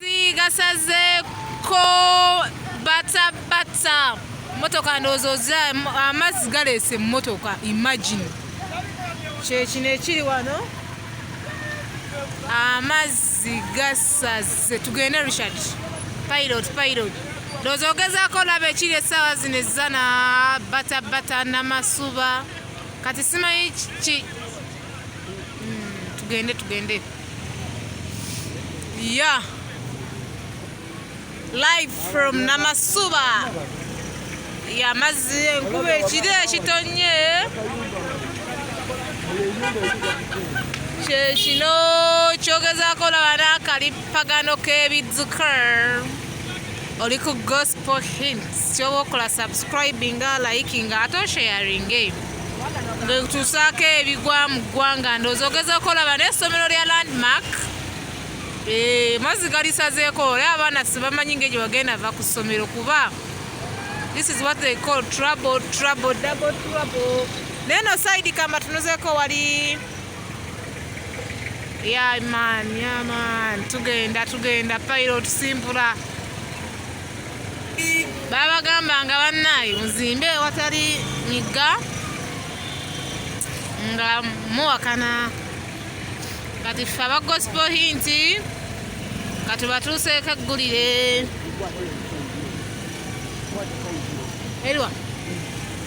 Amagezi gasazeeko batabata motoka ndowooza oza amazzi galeese emmotoka imagine kyekino ekiri wano amazzi gasaze tugende richard pilot pilot ndowooza ogezaako olaba ekiri essaawa zino ezana batabata namasuba kati simanyi tugende tugende ya live from namasuba yamazzi enkuba ekiri ekitonye kyekino kyogezako laba n'akalippagano k'ebidzukr oli ku gos for hints kyoba okola subscribing liking ate osharing ngetusaako ebigwa mu ggwanga ndoozi ogeza okolaba naye essomero lya landmark eh, mazzi galisazeeko olya abaana sibamanyi nga egyo bagenda va ku ssomero kuba this is what they call trouble trouble double trouble naye no saidi kamba tunuzeeko wali yaman yaman tugenda tugenda pilot simpula babagambanga bannaayi muzimbe ewatali migga nga muwakana kati ffe aba gospel hinti katubatuuseeko eggulire eriwa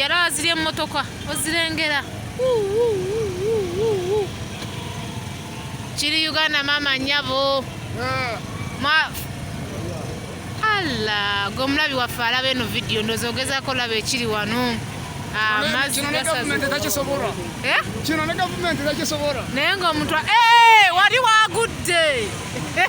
yali aziri emmotoka ozirengera kiri uganda maama nyabo alla gwe omulabi waffe alaba eno vidiyo ndoza ogezako olaba ekiri wano ah, eh? naye ngaomuntu eh, wali wagudde eh,